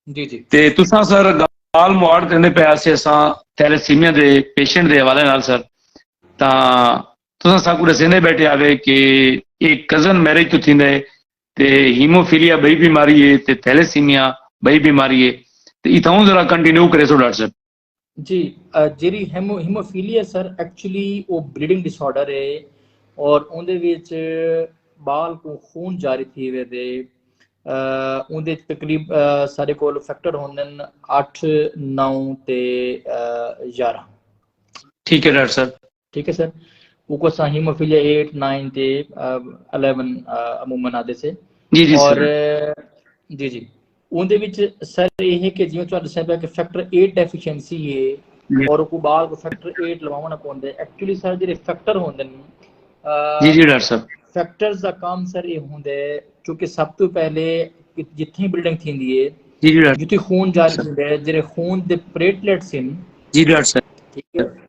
جی جی تے تساں سر گال مواڑ کرنے پہ آسے اساں تھیلیسیمیا دے پیشنٹ دے حوالے نال سر تا تساں سا کو رسینے بیٹھے آوے کہ ایک کزن میرج تو تھیندے تے ہیموفیلیا بئی بیماری ہے تے تھیلیسیمیا بئی بیماری ہے تے اتھاؤں ذرا کنٹینیو کرے سو ڈاکٹر صاحب جی جیری ہیموفیلیا سر ایکچولی وہ بلیڈنگ ڈس آرڈر ہے اور اندر وچ بال کو خون جاری تھی وے دے اندر تقریب سارے کو فیکٹر ہوندن اٹھ نو تے یارہ ٹھیک ہے ڈاکٹر صاحب ٹھیک ہے سر اوکو اساں ہیموفیلیا 8 9 تے 11 عموما آدے سے جی جی اور جی جی اون دے وچ سر یہ ہے کہ جیوں تہاڈے سب کہ فیکٹر 8 ڈیفیشنسی ہے جی۔ اور کو بعد کو فیکٹر 8 لواونا پوندے ایکچولی سر جڑے فیکٹر ہوندے نے جی جی ڈاکٹر صاحب فیکٹرز دا کام سر یہ ہوندے چونکہ سب تو پہلے جتھیں بلڈنگ تھیندی ہے جی جی جتھیں خون جاری ہوندے جڑے خون دے پلیٹلیٹس ہیں جی ڈاکٹر صاحب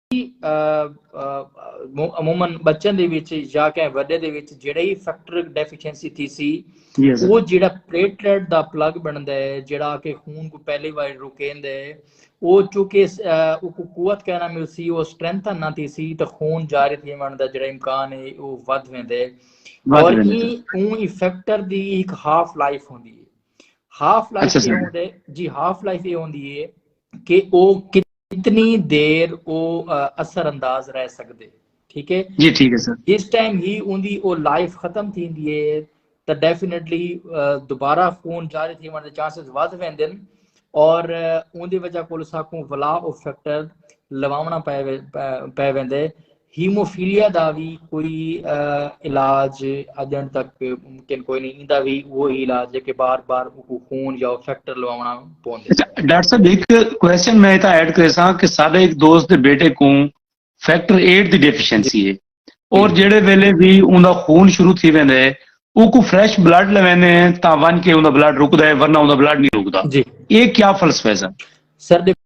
عموما بچن دے وچ یا کہیں وڈے دے وچ جڑے ہی فیکٹر ڈیفیشنسی تھی سی وہ جڑا پلیٹلیٹ دا پلگ بن دے جڑا کہ خون کو پہلی بار رکین دے وہ چونکہ وہ کو قوت کہنا مل سی وہ سٹرینتھ نہ تھی سی تو خون جاری تھی من دا جڑا امکان ہے وہ ود میں دے اور یہ اون ہی فیکٹر دی ایک ہاف لائف ہوں دی ہے ہاف لائف یہ ہوں دے جی ہاف لائف یہ ہوں دی ہے کہ وہ کتنے کتنی دیر او اثر انداز رہ سکدے ٹھیک ہے جی ٹھیک ہے سر جس ٹائم ہی اوندی او لائف ختم تھیندی ہے تے ڈیفینیٹلی دوبارہ خون جاری تھی ون دے چانسز ودھ ویندن اور اوندی وجہ کول ساکوں ولا او فیکٹر لواونا پے پے ویندے ہیموفیلیا دا وی کوئی علاج اجݨ تک ممکن کوئی نہیں ایندا وی اوہو ہی علاج ہے کہ بار بار اوکوں خون یا فیکٹر لواوݨا پوندے۔ ڈاکٹر صاحب ہک کوسچن میں اتھاں ایڈ کریساں کہ ساڈے ہک دوست دے بیٹے کوں فیکٹر ایٹ دی ڈیفیشنسی ہے اور جیڑھے ویلے وی اوندا خون شروع تھی ویندا ہے اوکوں فریش بلڈ لویندے ہیں تاں ونڄ کے اوندا بلڈ رکدا ہے ورنہ اوندا بلڈ نہیں رکدا اے کیا فلسفہ ہے سر؟ سر ݙیکھو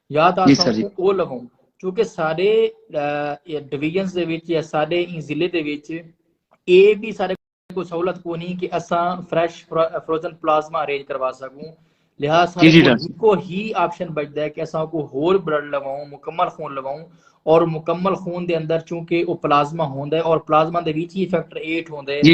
یا تا جی اساں او لووں چونکہ سارے ڈویژنز دے وچ یا سارے این ضلع دے وچ اے بھی سارے کو سہولت کو نہیں کہ اساں فریش فروزن پلازما ارینج کروا سکوں لہذا سارے جی، جی، کو ہکو ہی آپشن بچدا ہے کہ اساں کو ہور بلڈ لواؤں مکمل خون لواؤں اور مکمل خون دے اندر چونکہ او پلازما ہوندا ہے اور پلازما دے وچ ہی فیکٹر 8 ہوندا ہے جی۔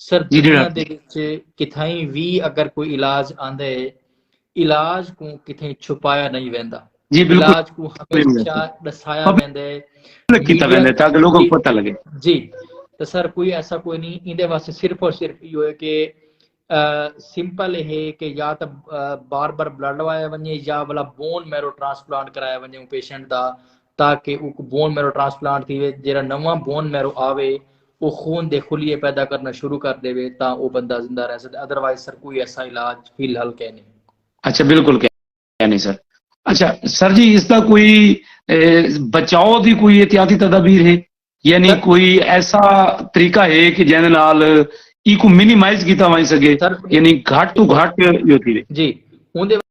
سرجریاں دے وچ کتھائیں وی اگر کوئی علاج آندے علاج کو کتھائیں چھپایا نہیں ویندا جی علاج کو ہمیشہ دسایا ویندے کیتا ویندے تاکہ لوگوں کو پتہ لگے جی تو سر کوئی ایسا کوئی نہیں ایندے واسطے صرف اور صرف یہ ہوئے کہ سمپل ہے کہ یا تو بار بار بلڈ لوایا ونجے یا والا بون میرو ٹرانسپلانٹ کرایا ونجے پیشنٹ دا تاکہ وہ بون میرو ٹرانسپلانٹ تھی جیرا نواں بون میرو آوے او خون دے خلیے پیدا کرنا شروع کر ڈیوے تاں او بندہ زندہ رہ سکدے ادروائز سر کوئی ایسا علاج فی الحال کینی۔ اچھا بالکل کینی سر۔ اچھا سر جی اس دا کوئی بچاؤ دی کوئی احتیاطی تدابیر ہے یعنی کوئی ایسا طریقہ ہے کہ جیندے نال ایکوں منیمائز کیتا ونج سکے یعنی گھٹ توں گھٹ جو تھیوے۔ جی اوندے۔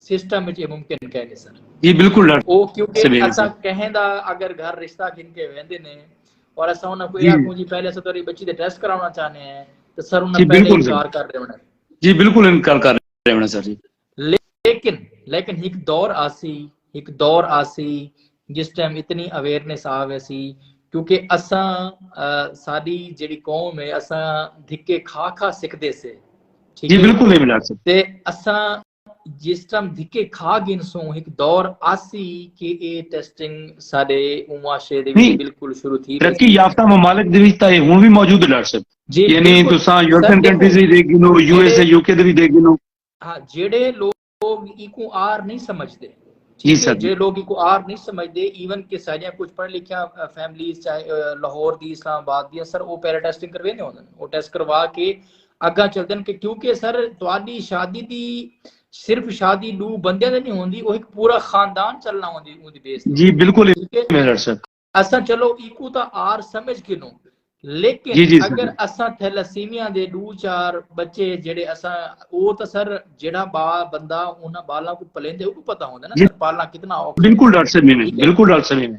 سسٹم وچ یہ ممکن کہہ نہیں سر جی بالکل ڈاکٹر او کیونکہ اسا کہیں دا اگر گھر رشتہ گھن کے ویندے نے اور اسا انہاں کوئی جی۔ آکھوں جی پہلے اسا تیری بچی دے ٹیسٹ کراونا چاہنے ہیں تو سر انہاں جی، پہلے بالکل انکار کر رہے ہونے جی بالکل انکار کر رہے ہونے سر جی لیکن لیکن ایک دور آسی ایک دور آسی جس ٹائم اتنی اویئرنیس آ ویسی کیونکہ اسا ساری جڑی قوم ہے اسا دھکے کھا کھا سکھدے سے جی بالکل نہیں ملا سکتے اسا جس ٹائم دھکے کھا گن سوں ہک دور آسی کہ اے ٹیسٹنگ سارے معاشرے دے وچ بالکل شروع تھی ترقی یافتہ ممالک دے وچ تاں ہن وی موجود ہے ڈاکٹر صاحب جی یعنی تساں یورپین کنٹریز وی دیکھ گنو U S A U K دے وی دیکھ گنو ہاں جڑے لوگ ایکو آر نہیں سمجھدے جی سر جی۔ جڑے لوگ ایکو آر نہیں سمجھدے ایون کہ ساڈیاں کچھ پڑھ لکھیا فیملیز چاہے لاہور دی اسلام آباد دی سر او پیرا ٹیسٹنگ کرویندے ہوندن او ٹیسٹ کروا کے اگاں چلدن کہ کیونکہ سر تواڈی شادی دی صرف شادی دو بندے دے نہیں ہوندی او ایک پورا خاندان چلنا ہوندی اون دی بیس جی بالکل اساں چلو ایکو تا آر سمجھ کنو لیکن جی جی اگر اساں تھیلاسیمیا دے دو چار بچے جڑے اساں او تا سر جڑا با بندہ انہاں بالاں کو پلیندے او کو پتہ ہوندا نا جی۔ سر پالنا کتنا اوکھا بالکل ڈاکٹر صاحب میں بالکل ڈاکٹر صاحب میں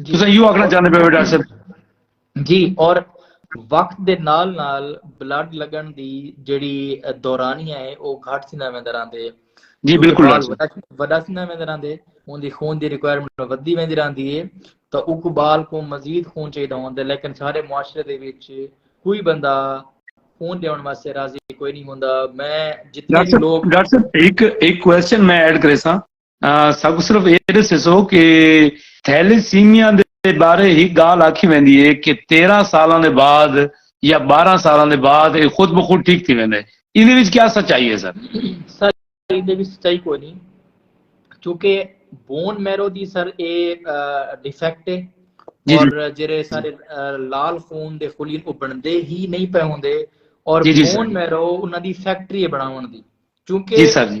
جی تساں ایو آکھنا چاہندے پے ہو ڈاکٹر صاحب جی اور وقت دے نال نال بلڈ لگن دی جڑی دورانیہ ہے او گھٹ تھیندا ویندا رہندے جی بالکل وڈا تھیندا ویندا رہندے اون دی خون دی ریکوائرمنٹ ودی ویندی رہندی ہے تو اوکو بال کو مزید خون چاہیدا ہوندے لیکن سارے معاشرے دے وچ کوئی بندہ خون دیون واسطے راضی کوئی نہیں ہوندا میں جتنے بھی لوگ ڈاکٹر صاحب ایک ایک کوسچن میں ایڈ کرے سا ساکوں صرف اے ݙسیسو کہ تھیلیسیمیا دے بارے ہک ڳالھ آکھی ویندی ہے کہ تیرہ سالاں دے بعد یا بارہ سالاں دے بعد اے خود بخود ٹھیک تھی ویندے ایندے وچ کیا سچائی ہے سر سر ایندے وچ سچائی کوئی نہیں چونکہ بون میرو دی سر اے ڈیفیکٹ ہے جی، جی۔ اور جڑے سارے لال خون دے خلین او بندے ہی نہیں پے ہوندے اور جی، بون میرو انہاں دی فیکٹری بناون دی چونکہ جی،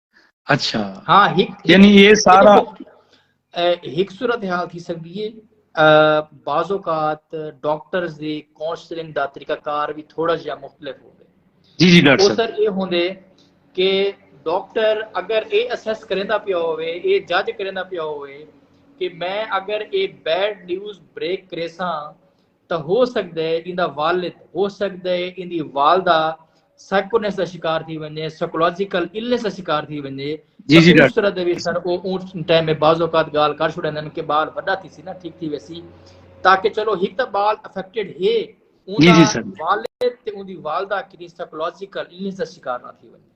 اچھا ہاں یعنی یہ سارا ہک صورت حال تھی سکتی ہے بعض اوقات ڈاکٹرز دی کونسلنگ دا طریقہ کار بھی تھوڑا جہا مختلف ہوندے جی جی ڈاکٹر صاحب سر اے ہوندے کہ ڈاکٹر اگر اے اسیس کریندا پیا ہوے اے جج کریندا پیا ہوے کہ میں اگر اے بیڈ نیوز بریک کریساں تاں ہو سڳدے ایندا والد ہو سڳدے ایندی والدہ سائیکونس دا شکار تھی ونجے سائیکولوجیکل النس دا شکار تھی ونجے جی جی اس طرح دے وچ سر او اون ٹائم میں بعض اوقات گال کر چھڑے نن کے بال وڈا تھی سی نا ٹھیک تھی ویسی تاکہ چلو ہک تا بال افیکٹڈ ہے اون جی جی سر والد تے اون دی والدہ کدی سائیکولوجیکل النس دا شکار نہ تھی ونجے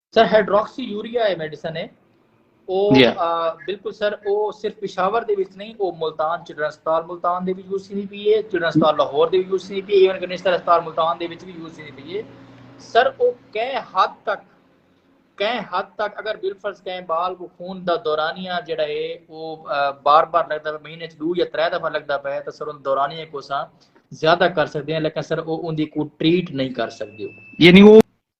سر ہائیڈروکسی یوریا ہے میڈیسن ہے او جی۔ بالکل سر او صرف پشاور دے وچ نہیں او ملتان چڑن اسپتال ملتان دے وچ یوز تھی پی ہے چڑن اسپتال لاہور دے وچ یوز تھی پی ہے ایون کنیشنر اسپتال ملتان دے وچ بھی یوز تھی پی ہے سر او کہیں حد تک کہیں حد تک اگر بالفرض کہیں بال کو خون دا دورانیہ جڑا ہے او بار بار لگدا ہے مہینے چ دو یا ترے دفعہ لگدا پے تے سر ان دورانیہ کو سا زیادہ کر سکدے ہیں لیکن سر او ان دی کو ٹریٹ نہیں کر سکدے یعنی وہ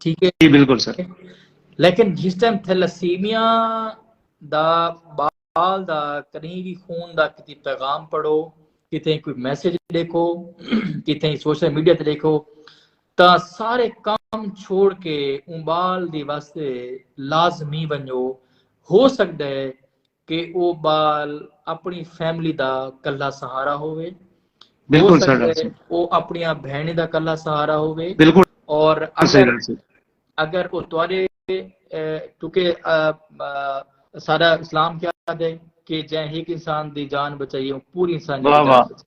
ٹھیک ہے جی بالکل سر لیکن جس ٹائم تھیلاسیمیا دا بال دا کہیں بھی خون دا کتی پیغام پڑھو کتیں کوئی میسج دیکھو کتیں سوشل میڈیا تے دیکھو تا سارے کام چھوڑ کے اون بال دی واسطے لازمی ونجو ہو سکتا ہے کہ او ٻال اپݨی فیملی دا کلھا سہارا ہووے ہو سڳدے او اپݨیاں بھیݨیں دا کلھا سہارا ہووے اور اگر اگر او تواݙے کیونکہ سارا اسلام کیا دے کہ جیں ہک انسان دی جان بچائیے پوری انسان دی جان بچائیے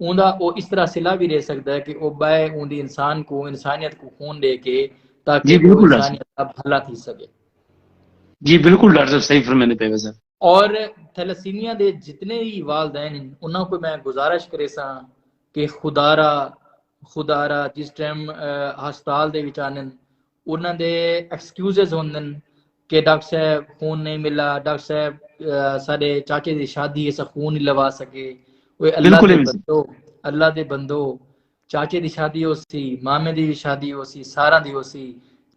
اوندا او اس طرح صلہ وی ݙے سڳدا ہے کہ او ٻئے اوندی انسان کوں انسانیت کوں خون ݙے کے تاکہ جی بالکل ڈاکٹر صاحب انسانیت دا بھلا تھی سڳے۔ جی بالکل ڈاکٹر صاحب صحیح فرمیندے پئے ویسے۔ اور تھیلاسیمیا دے جتنے وی والدین ہن انہاں کوں میں گزارش کریساں کہ خدارا خدارا جس ٹائم ہسپتال دے وچ آندن انہاں دے ایکسکیوزز ہوندن کہ ڈاکٹر صاحب خون نہیں ملا ڈاکٹر صاحب سارے چاچے دی شادی ہے اسا خون نہیں لوا سکے اوے اللہ دے بندو اللہ دے بندو چاچے دی شادی ہو سی مامے دی بھی شادی ہو سی سارا دی ہو سی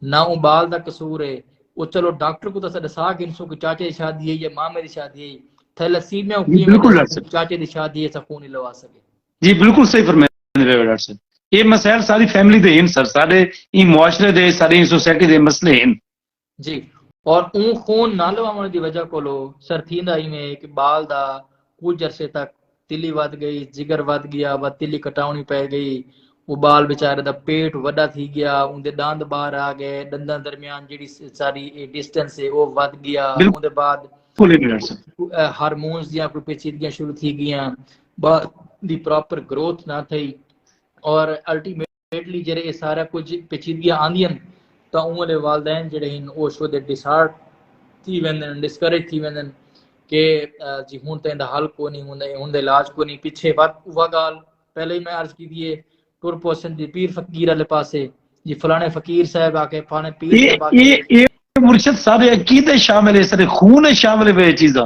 نہ او بال دا قصور ہے او چلو ڈاکٹر کو تسا دسا کہ انسو کو چاچے دی شادی ہے یا مامے دی شادی ہے تھیلسیمیا کی بالکل چاچے دی شادی ہے اسا خون نہیں لوا سکے جی بالکل صحیح فرمائے رہے ہو ڈاکٹر صاحب یہ مسائل ساری فیملی دے ہیں سر سارے این معاشرے دے سارے این سوسائٹی دے مسئلے ہیں جی اور اون خون نہ لواون دی وجہ کولو سر تھیندا ایویں کہ بال دا کچھ عرصے تک تلی ود گئی جگر ود گیا و تلی کٹاونی پے گئی وہ بال بیچارے دا پیٹ وڈا تھی گیا اون دے داند باہر آ گئے دنداں درمیان جڑی ساری ڈسٹنس ہے وہ ود گیا اون دے بعد ہارمونز دیاں کوئی پیچیدگیاں شروع تھی گیاں با دی پراپر گروتھ نہ تھئی اور الٹیمیٹلی جڑے اے سارا کچھ پیچیدگیاں آندیاں تا اوں والے والدین جڑے ہیں او شو دے ڈیسارٹ تھی ویندن ڈسکریج تھی ویندن کہ جی ہن تے دا حل کو نہیں ہوندا اے ہن دے علاج کو نہیں پیچھے ود اوہ گال پہلے ہی میں عرض کی دیے ٹر پوسن دی پیر فقیر والے پاسے جی فلانے فقیر صاحب آ کے فلانے پیر صاحب آ کے مرشد صاحب عقیدے شامل ہے سارے خون شامل ہے چیزاں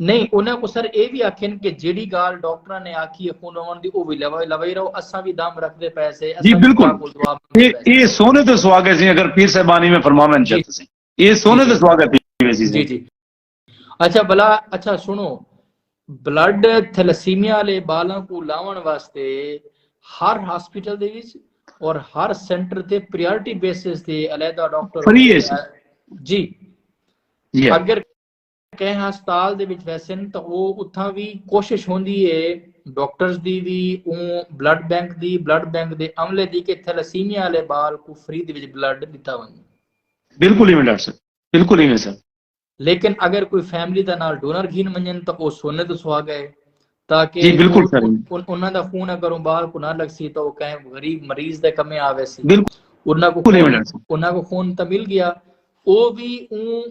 نہیں انہاں کوں سر اے وی آکھن کہ جیڑھی گال ڈاکٹراں نے آکھی اے خون وون دی او وی لوئی رہو اساں وی دم رکھدے پئے سے جی بالکل اے سونے تے سواگے سی اگر پیر صاحبانی میں فرماون چاہتے سی اے سونے تے سواگے پیر ویسی جی جی اچھا بلا اچھا سنو بلڈ تھلسیمیا لے بالاں کو لاون واسطے ہر ہاسپٹل دے وچ اور ہر سینٹر تے پریارٹی بیسس تے علیحدہ ڈاکٹر فری ہے جی, جی۔ اگر کہیں ہسپتال دے وچ ویسن تاں او اتھاں وی کوشش ہوندی اے ڈاکٹرز دی وی اوں بلڈ بینک دی بلڈ بینک دے عملے دی کہ تھیلاسیمیا آلے بال کوں فری دے وچ بلڈ ڈتا ونجے۔ بالکل ایویں ڈاکٹر صاحب بالکل ایویں سر۔ لیکن اگر کوئی فیملی دا نال ڈونر گھن ونجن تاں او سونے دا سہاگا اے تاکہ جی بالکل سر انہاں دا خون اگر اون باہر کو نہ لگسی تو او کہیں غریب مریض دے کمے آوے سی انہاں کو انہاں کو خون تا مل گیا او بھی اون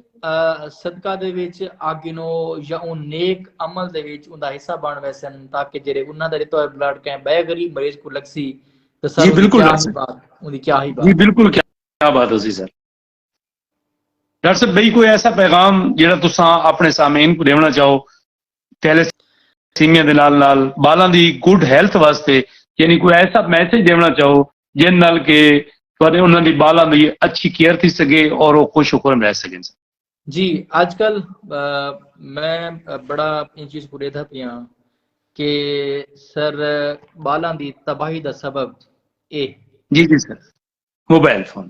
صدقہ دے وچ آگنو یا اون نیک عمل دے وچ اون دا حصہ بن ویسن تاکہ جڑے انہاں دا رتو ہے بلڈ کہیں بے غریب مریض کو لگسی تو سر جی بالکل کیا ہی بات جی بالکل کیا بات ہو سی سر ڈاکٹر صاحب بھئی کوئی ایسا پیغام جڑا تسا اپنے سامعین کو دیونا چاہو تیلے سیمیاں دے نال نال بالاں دی گڈ ہیلتھ واسطے یعنی کوئی ایسا میسج دیونا چاہو جن نال کے تھوڑے انہاں دی بالاں دی اچھی کیئر تھی سکے اور وہ خوش و خورم رہ سکے جی آج کل میں بڑا ان چیز کو دیدھا پیا ہاں کہ سر بالاں دی تباہی دا سبب اے جی جی سر موبائل فون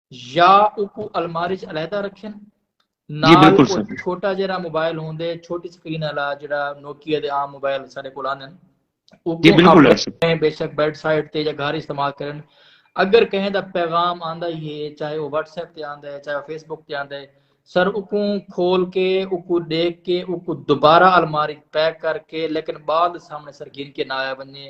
یا اوکو الماری چ علیحدہ رکھن جی، نال او چھوٹا جیرا موبائل ہوندے چھوٹی سکرین والا جڑا نوکیا دے عام موبائل سارے کول آندے ہیں او جی، بالکل رکھیں بے شک بیڈ سائیڈ تے یا گھر استعمال کرن اگر کہیں دا پیغام آندا ہی ہے چاہے او واٹس ایپ تے آندا ہے چاہے او فیس بک تے آندا ہے سر اوکو کھول کے اوکو دیکھ کے اوکو دوبارہ الماری پیک کر کے لیکن بعد سامنے سر گھن کے نہ آیا بنے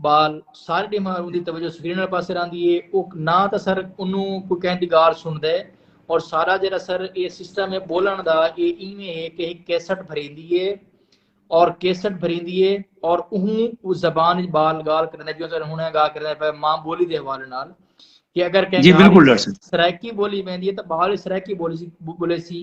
بال سارے ڈیماں ہر اوندی توجہ سکرین والے پاسے راندی ہے او نہ تا سر انو کو کہیں دی گال سن دے اور سارا جڑا سر اے سسٹم ہے بولن دا اے ایویں ہے کہ ایک کیسٹ بھریندی ہے اور کیسٹ بھریندی ہے اور اہوں او زبان وچ بال گال کرنے جو سر ہنے گا کرنے پے ماں بولی دے حوالے نال کہ اگر کہیں جی بالکل سرائیکی بولی ویندی ہے تو بال سرائیکی بولی سی بولے سی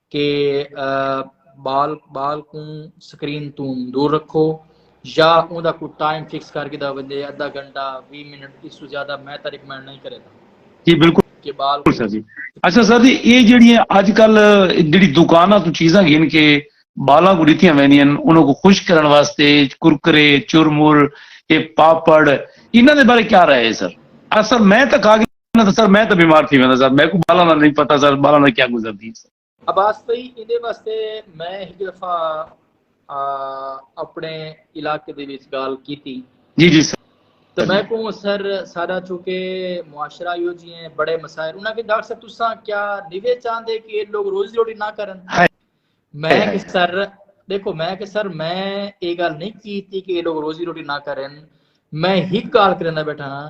کہ بال بال کوں سکرین توں دور رکھو یا اون دا کوئی ٹائم فکس کر گھدا ونجے ادھا گھنٹہ 20 منٹ اس تو زیادہ میں تاں ریکمینڈ نہیں کرے دا جی بالکل کہ بال اچھا جی اچھا سر جی اے جڑی اج کل جڑی دکاناں تو چیزاں گھن کے بالاں کو ڈتیاں ویندیاں انہاں کو خوش کرن واسطے کرکرے چرمر اے پاپڑ انہاں دے بارے کیا رائے ہے سر اصل میں تاں کھا نہ سر میں تو بیمار تھی ویندا سر میں کو بالاں دا نہیں پتہ سر بالاں دا کیا گزردی سر عباس بھائی ایندے واسطے میں ہک دفعہ اپنے علاقے دے وچ گال کیتی جی جی سر تو میں کو سر سارا چونکہ معاشرہ یو جی ہیں بڑے مسائل انہاں کہ ڈاکٹر صاحب تساں کیا نیوے چاہندے کہ لوگ روزی روٹی نہ کرن میں کہ سر دیکھو میں کہ سر میں یہ گل نہیں کیتی کہ لوگ روزی روٹی نہ کرن میں ہک گال کرنا بیٹھا ہاں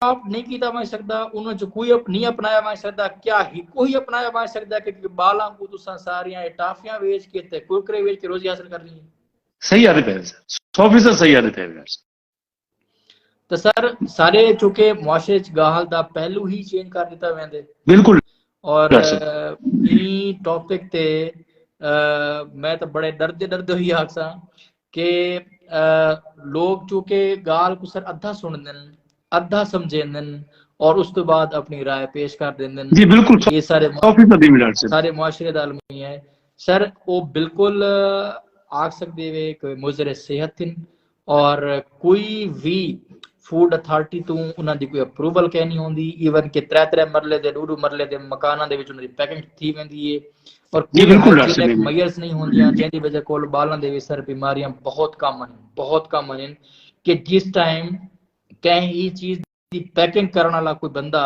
اپ نہیں کیتا ونج سکدا انہاں چ کوئی اپ نہیں اپنایا ونج سکدا کیا ہی کوئی اپنایا ونج سکدا کہ بالاں کو تساں ساریاں اے ٹافیاں ویچ کے تے کرکرے ویچ کے روزی حاصل کرنی ہے صحیح آدھے پہ سر سو فیصد صحیح آدھے پہ سر تو سر سارے چونکہ معاشرے چ گاہل دا پہلو ہی چینج کر دیتا ویندے بالکل اور این ٹاپک تے میں تو بڑے ڈردے ڈردے ہوئی آکساں کہ لوگ چونکہ گال کو سر ادھا سنندن ادھا سمجھیندن اور اس تو بعد اپنی رائے پیش کر دیندن جی بالکل یہ سارے سارے معاشرے دا المیہ ہے سر وہ بالکل آگ سکتے ہوئے کہ مضر صحت تھن اور کوئی بھی فوڈ اتھارٹی تو انہاں دی کوئی اپروول کہنی ہوندی ایون کہ ترے ترے مرلے دے ڈو ڈو مرلے دے مکاناں دے وچ انہاں دی پیکنگ تھی ویندی ہے پر جی کوئی بالکل ڈاکٹر ہائجینک صاحب میئرز نہیں ہوندیاں جیندی وجہ کول بالاں دے وسر بیماریاں بہت کم ہن بہت کم ہن کہ جس ٹائم کہیں ہی چیز دی پیکنگ کرن والا کوئی بندہ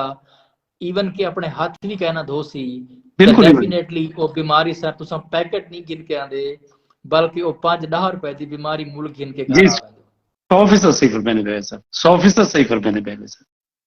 ایون کہ اپنے ہاتھ بھی کہنا دھو سی تو بالکل ایون ڈیفینیٹلی وہ بیماری سر تساں پیکٹ نہیں گن کے آندے بلکہ وہ پانچ ڈاہ روپے دی بیماری مول گن کے جی گھر آ ویندے سو فیصد صحیح فرمانے پہ سر سو فیصد صحیح فرمانے پہ سر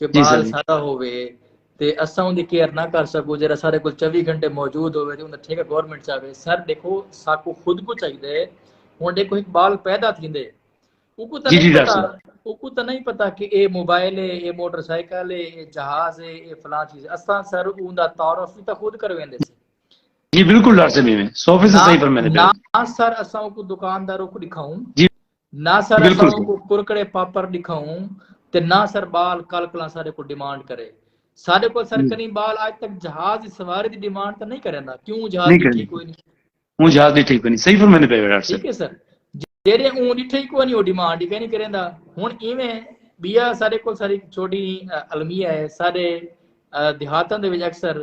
کہ بال سادہ ہووے تے اساں اوندی کیئر نہ کر سکوں جیرا سارے کول 24 گھنٹے موجود ہووے تے اوندا ٹھیکہ گورنمنٹ چاہے سر دیکھو ساکو خود کو چاہیدا ہے ہن دیکھو ایک بال پیدا تھیندے اوکو تاں جی، نہیں جی، پتا اوکو تاں نہیں پتا کہ اے موبائل ہے اے موٹر سائیکل ہے اے جہاز ہے اے فلاں چیز ہے اساں سر اوندا تعارف بھی تاں خود کرویندے سے جی بالکل ڈاکٹر صاحب میں 100% صحیح فرمایا نہ سر اساں کو دکانداروں کو دکھاؤں جی نہ سر اساں کو کرکڑے پاپر ڈکھاؤں تے نہ سر بال کل کلاں سارے کو ڈیمانڈ کرے سارے کو سر کنی بال آج تک جہاز سواری دی ڈیمانڈ تے نہیں کریندا کیوں جہاز دی ٹھیک کوئی نہیں ہوں جہاز دی ٹھیک کوئی نہیں صحیح فرمانے پہ بیٹھا ٹھیک ہے سر جیرے اون دی ٹھیک کوئی نہیں وہ ڈیمانڈ ہی نہیں کریندا ہن ایویں بیا سارے کو ساری چھوٹی المیہ ہے سارے دیہاتاں دے وچ اکثر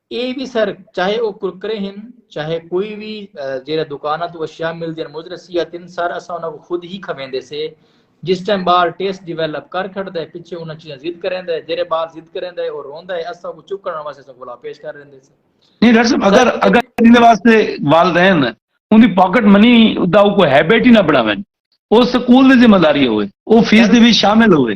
اے وی سر چاہے او کرکرے ہن چاہے کوئی وی جیرا دکاناں تو اشیاء ملدین مدر صحت ہن سر اساں انہاں کو خود ہی کھویندے سے جس ٹائم بال ٹیسٹ ڈیویلپ کر کھڑدا ہے پچھے انہاں چیزاں ضد کریندا ہے جیرے بال ضد کریندا ہے او روندا ہے اساں کو چکن واسطے اساں کو پیش کر دیندے سے نہیں ڈاکٹر صاحب اگر اگر ان دے واسطے والدین ان دی پاکٹ منی دا کوئی ہیبٹ ہی نہ بناون او سکول دی ذمہ داری ہوے او فیس دے وچ شامل ہوے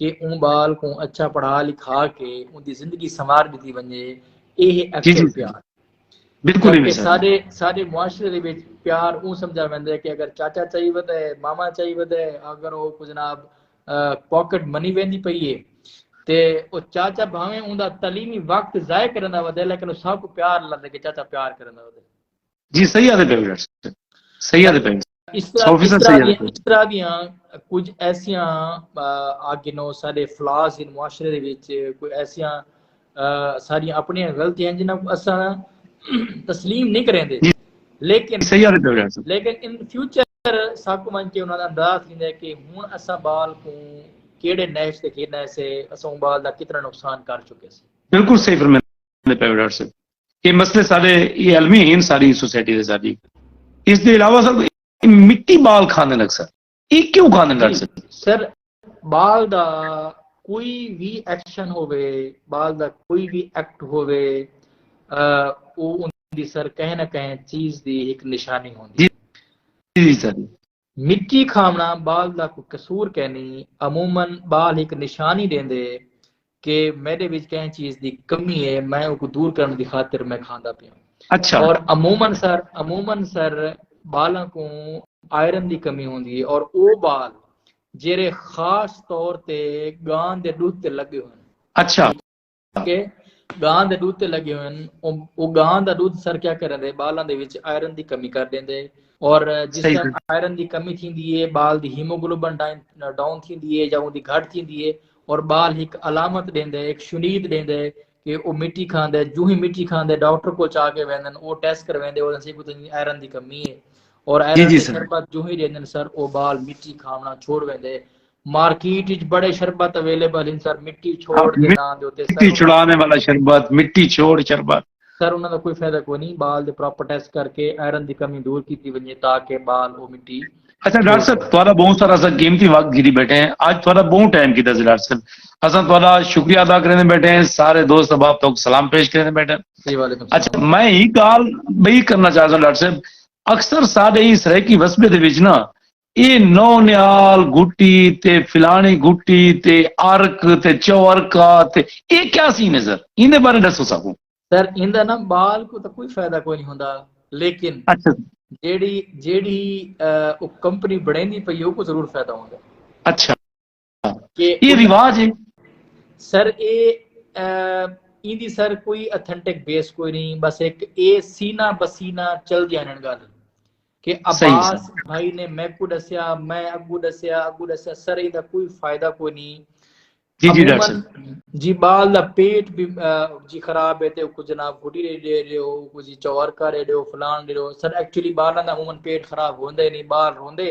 کہ اوں بال کوں اچھا پڑھا لکھا کے اوں دی زندگی سنوار دیتی ونجے اے ہے جی، جی، جی۔ بالکل ہی سارے سارے معاشرے دے وچ پیار اوں سمجھا ویندا ہے کہ اگر چاچا چاہی ودا ہے ماما چاہی ودا ہے اگر او کو جناب پاکٹ منی ویندی پئی ہے تے او چاچا بھاویں اوندا تعلیمی وقت ضائع کرندا ودا ہے لیکن او سب کو پیار لگدا کہ چاچا پیار کرندا ودا ہے جی صحیح آدھے پہ صحیح آدھے پہ اس طرح دیاں کچھ ایسیاں آگے نو سارے فلاس ان معاشرے دے وچ کوئی ایسیاں ساری اپنی غلطی ہیں جنہاں کو اساں تسلیم نہیں کریں دے جی، لیکن لیکن ان فیوچر ساکو من کے انہاں دا انداز نہیں دے کہ ہون اساں بال کو کیڑے نیش دے کھیڑنا ہے سے اساں بال دا کتنا نقصان کر چکے سے بالکل صحیح فرمائے دے پہ ڈاکٹر صاحب یہ مسئلے سارے یہ علمی ہیں ساری سوسائٹی دے ساری اس دے علاوہ سر مٹی بال کھانے لگ سر یہ کیوں کھانے لگ سر سر بال دا کوئی بھی ایکشن ہوئے بال دا کوئی بھی ایکٹ ہوئے وہ ان دی سر کہیں نہ کہیں چیز دی ایک نشانی ہوندی جی جی سر مٹی کھاوݨا ٻال دا کوئی قصور کینی، عموما ٻال ہک نشانی ݙیندے کہ میݙے وچ کہیں چیز دی کمی ہے میں اوکوں دور کرݨ دی خاطر میں کھاندا پیاں اور عموما سر عموما سر ٻالاں کوں آئرن دی کمی ہوندی ہے اور او ٻال جیرھے خاص طور تے ڳاں دے ݙدھ تے لڳے ہوئن کہ گاں دے ڈودھ تے لگے ہوئے ہن او گاں دا ڈودھ سر کیا کریندے بالاں دے وچ آئرن دی کمی کر ڈیندے اور جس طرح آئرن دی کمی تھیندی ہے بال دی ہیموگلوبن ڈاؤن تھیندی ہے یا اون دی گھٹ تھیندی ہے اور بال ایک علامت ڈیندے ایک شنید ڈیندے کہ او مٹی کھاندے جو ہی مٹی کھاندے ڈاکٹر کو چا کے ویندن او ٹیسٹ کرویندے او دسے کو تنی آئرن دی کمی ہے اور آئرن دی شربت جو ہی ڈیندن سر او بال مٹی کھاونا چھوڑ ویندے مارکیٹ اچ بڑے شربت اویلیبل ہن سر مٹی چھوڑ دے ناں دے اتے مٹی چھڑاویں والا شربت مٹی چھوڑ شربت۔ سر انہاں دا کوئی فائدہ کوئی نی بال دے پراپر ٹیسٹ کر کے آئرن دی کمی دور کیتی ونجے تاکہ بال او مٹی اچھا ڈاکٹر صاحب تہاڈا بہوں سارا اساں قیمتی وقت گھدی بیٹھے ہیں اج تہاڈا بہوں ٹائم کیتا سی ڈاکٹر صاحب اساں تہاڈا شکریہ ادا کریندے بیٹھے ہیں سارے دوست احباب تہاکوں سلام پیش کریندے بیٹھے ہیں جی وعلیکم السلام اچھا میں ہی گال بئی کرنا چاہتا ہوں ڈاکٹر صاحب اکثر ساڈے ہی سرائیکی وسبے دے وچ نا اے نو نہال گھٹی تے فلانی گھٹی تے ارک تے چوارکا تے اے کیا سی نے سر ایندے بارے دسو ساکوں سر ایندا نا بال کو تا کوئی فائدہ کوئی نہیں ہوندا لیکن اچھا جیڑی جیڑی او کمپنی بڑیندی پئی او کو ضرور فائدہ ہوندا اچھا اے رواج ہے سر اے ایں دی سر کوئی اتھنٹک بیس کوئی نہیں بس ایک اے سینہ بسینہ چل دیا انہن گالے کہ عباس بھائی نے میں کو ڈسیا میں اگو ڈسیا اگو ڈسیا سر اے دا کوئی فائدہ کوئی نہیں جی جی ڈاکٹر صاحب جی بال دا پیٹ بھی جی خراب ہے تے کو جناب گھٹی رے دے رے ہو کو جی چور کر رے دے ہو فلان دے ہو سر ایکچولی بالاں دا عموماً پیٹ خراب ہوندے نہیں بال روندے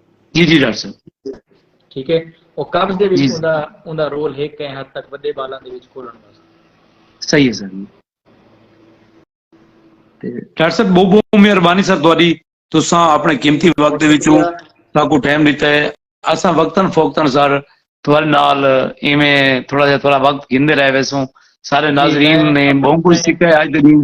جی جی ڈاکٹر صاحب ٹھیک ہے او قبض دے وچ اوندا اوندا رول ہے کہیں حد تک وڈے بالاں دے وچ کھولن واسطے صحیح ہے سر تے ڈاکٹر صاحب بہت بہت مہربانی سر تہاڈی تساں اپنے قیمتی وقت دے وچوں ساکو ٹائم دیتا ہے اساں وقتاً فوقتاً سر تہاڈے نال ایویں تھوڑا جہا تھوڑا وقت گھندے رہ ویسوں سارے ناظرین نے بہت کچھ سیکھا ہے اج دے دن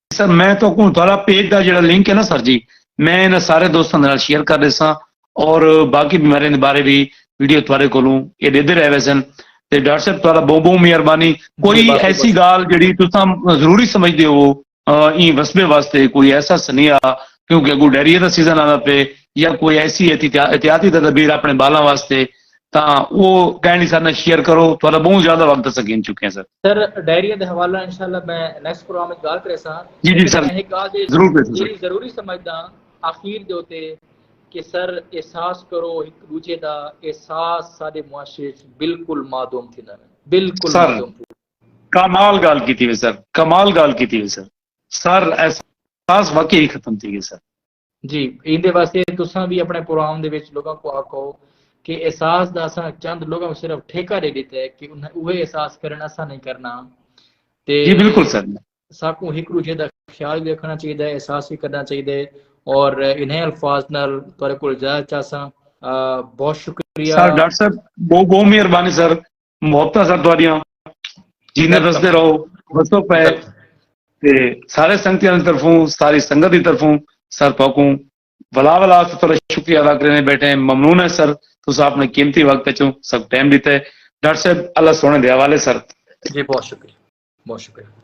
سر میں تو کوں تھوڑا پیج دا جڑا لنک ہے نا سر جی میں انہاں سارے دوستاں دے نال شیئر کر دیساں اور باقی بیماریاں دے بارے بھی ویڈیو تھوڑے کولوں اے دیندے رہ ویسن تے ڈاکٹر صاحب تھوڑا بہت بہت مہربانی کوئی ایسی گال جڑی تساں ضروری سمجھدے ہو این وسبے واسطے کوئی ایسا سنیہ کیونکہ اگو ڈیریا دا سیزن آندا پے یا کوئی ایسی احتیاطی تدابیر اپنے بالاں واسطے تاں او کائنڈلی سارے نال شیئر کرو تہاڈا بہوں زیادہ وقت اساں گھن چکے ہیں سر۔ سر ڈائری دے حوالہ نال انشاءاللہ میں نیکسٹ پروگرام وچ گالھ کریساں لیکن میں ہک گالھ جیڑھی ضروری سمجھداں آخیر دے اتے کہ سر احساس کرو ہک دوجھے دا احساس ساڈے معاشرے وچ بالکل معدوم تھیندا پیا بالکل معدوم تھیندا کمال گالھ کیتی وے سر کمال گالھ کیتی وے سر سر احساس واقعی ختم تھی گئے سر۔ جی ایندے واسطے تساں وی اپنے پروام دے وچ لوگاں کوں آکھو کہ احساس دا اساں چند لوگاں کوں صرف ٹھیکہ ݙے ݙتا ہے کہ انہاں اوہے احساس کرن اساں نہیں کرنا تے جی بالکل سر ساکوں ہک ݙوجھے دا خیال وی رکھنا چاہیے ہے احساس وی کرنا چاہیے ہے اور انہیں الفاظ نال تہاڈے کول اجازت چاہساں بہت شکریہ سر ڈاکٹر صاحب بہت بہت مہربانی سر محبتاں سن تہاڈیاں جیندے وسدے رہو وسو پے تے سارے سنگتیاں دی طرفوں ساری سنگت دی طرفوں سر تہاکوں ولا ولا سے تھوڑا شکریہ ادا کرنے بیٹھے ہیں ممنون ہے سر تسا اپنے قیمتی وقت وچوں سب ٹائم دیتا ہے ڈاکٹر صاحب اللہ سونے دے حوالے سر جی بہت شکریہ بہت شکریہ